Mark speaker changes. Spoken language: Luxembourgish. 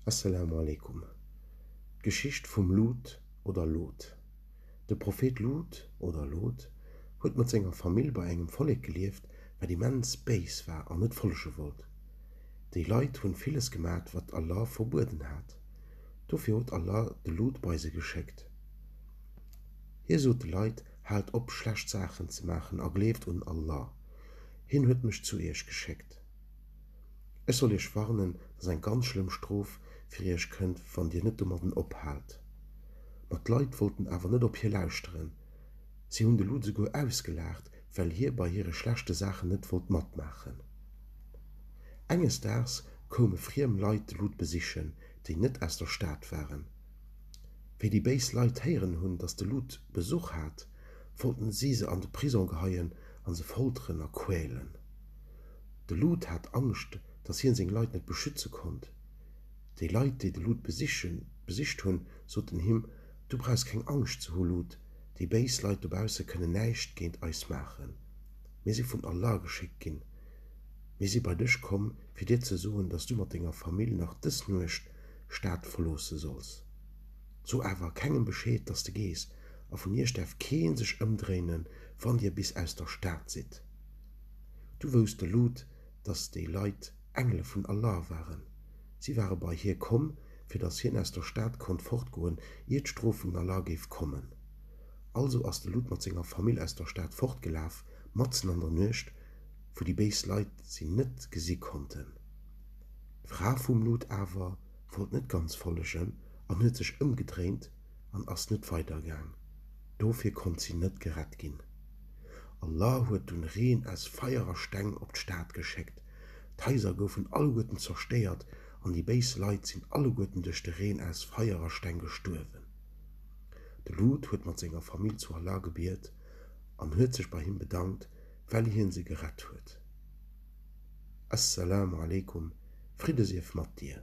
Speaker 1: Asselamu alaikum, D'Geschicht vum Lut oder Lot. De Prophet Lut oder Lot huet mat senger Famill bei engem Vollek gelieft, wat immens béis war an net follege wollt. Déi Leit hunn villes gemat wat Allah verbueden hat. Dofir huet Allah de Lut bei se geschéckt. Hie sot de Leit, Haalt op schlecht Saachen ze maachen a gleeft un Allah. Hien huet mech zu iech geschéckt. Ech soll iech warnen, datt eng ganz schlëmm Strof fir iech kënnt, wann dir net domadden ophaalt. Ma d'Leit wollten awer net op hie lauschteren. Si hunn de Lud souguer ausgelaacht, well hie bei hire schlechte Saachen net wollt matmaachen. Enges Daags koume friem Leit de Lud besichen, déi net aus der Stad waren. Wéi déi béis Leit héieren hunn, datt de Lud Besuch hat, wollten si se an de Prisong geheien a se folteren a quälen. De Lud hat Angscht, datt hien seng Leit net beschütze konnt. Déi Leit, déi de Lud besicht hunn, soten him, Du brauchs keng Angscht ze hu, Lud, déi béis Leit dobausse kënnen näischt géint eis maachen. Mir si vun Allah geschéckt ginn. Mir si bei dech komm, fir dir ze soen, datt du mat denger Famill nach dës Nuecht d'Stad verloosse solls. So awer kengem Bescheed, datt de gees, a vun iech däerf kee sech ëmdréinen, wann dir bis aus der Stad sidd. Du wousste Lut, datt déi Leit Engele vun Allah waren. Si ware bei hie komm, fir datt hien aus der Stad konnt fortgoen, ier d'Strof vun Allah géif kommen. Also ass de Lut mat senger Famill aus der Stad fortgelaf, matzen an der Nuecht, wou déi béis Leit si net gesi konnten. D'Fra vum Lut awer wollt net ganz follegen an huet sech ëmgedréint, an ass net weidergaang, dofir konnt si net gerett ginn. Allah huet dunn Reen aus Feier a Steng op d'Stad geschéckt, d'Haiser goufen alleguerten zerstéiert an déi béis Leit sinn alleguerten duerch de Reen aus Feier a Steng gestuerwen. De Lut huet mat senger Famill zu Allah gebiet an huet sech bei him bedankt, well hien se gerett huet. As-Salamu alaykum, Fridde sief mat dir!